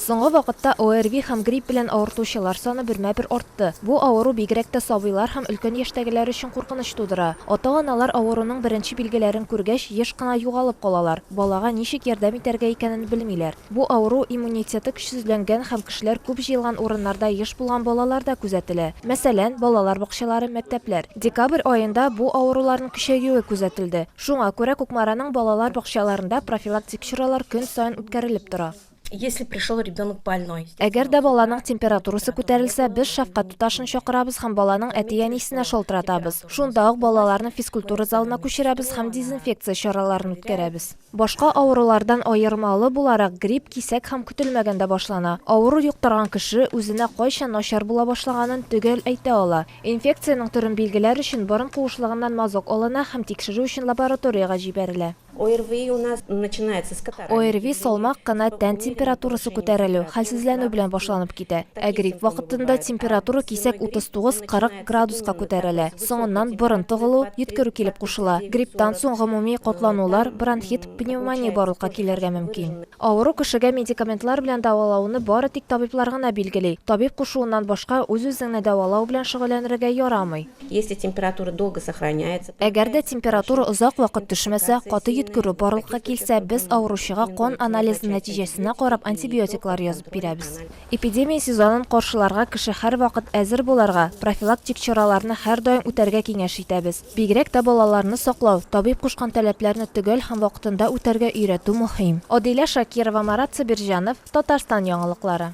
Соңгы вакытта ОРВИ һәм грипп белән авыртучылар саны бермә-бер артты. Бу авыру бигрәк тә сабыйлар һәм өлкән яшьтәгеләр өчен куркыныч тудыра. Ата-аналар авыруның беренче билгеләрен күргәч, еш кына югалып калалар, балага ничек ярдәм итәргә икәнен белмиләр. Бу авыру иммунитеты көчсезләнгән һәм кешеләр күп җыелган урыннарда еш булган балаларда күзәтелә. Мәсәлән, балалар бакчалары, мәктәпләр. Декабрь аенда бу авыруларның көчәюе күзәтелде. Шуңа күрә Кукмараның балалар бакчаларында профилактик чаралар көн саен үткәрелеп тора. Если пришел ребенок больной. Әгәр дә баланың температурасы күтәрелсә, без шәфкать туташын чакырабыз һәм баланың әти-әнисенә шалтыратабыз. Шунда ук балаларны физкультура залына күчерәбез һәм дезинфекция чараларын үткәрәбез. Башка авырулардан аермалы буларак, грипп кисәк һәм көтелмәгәндә башлана. Авыру йоктырган кеше үзенә кайчан начар була башлаганын төгәл әйтә ала. Инфекциянең төрен билгеләр өчен борын куышлыгыннан мазок алына һәм тикшерү өчен лабораториягә җибәрелә. ОРВИ у нас начинается с катаральных явлений. ОРВИ салмак кына тән температурасы күтәрелү, хәлсезләнү белән башланып китә. Ә грипп вакытында температура кисәк 39-40 градуска күтәрелә. Соңыннан борын тыгылу, йөткерү килеп кушыла. Грипптан соң гомуми катланулар, бронхит, пневмония барлыкка килергә мөмкин. Авыру кешегә медикаментлар белән дәвалауны бары тик табиблар гына билгели. Табиб кушуыннан башка үз-үзеңне дәвалау белән шөгыльләнергә ярамый. Если температура долго сохраняется. Әгәр дә температура озак вакыт төшмәсә, каты йөткерү барлыкка килсә, без авыручыга кан анализы нәтиҗәсенә карап антибиотиклар язып бирәбез. Эпидемия сезонын каршыларга кеше һәрвакыт әзер буларга, профилактик чараларны һәрдаим үтәргә киңәш итәбез. Бигрәк тә балаларны саклау, табиб кушкан таләпләрне төгәл һәм вакытында үтәргә өйрәтү мөһим. Адилә Шакирова, Марат Сабирҗанов, Татарстан яңалыклары.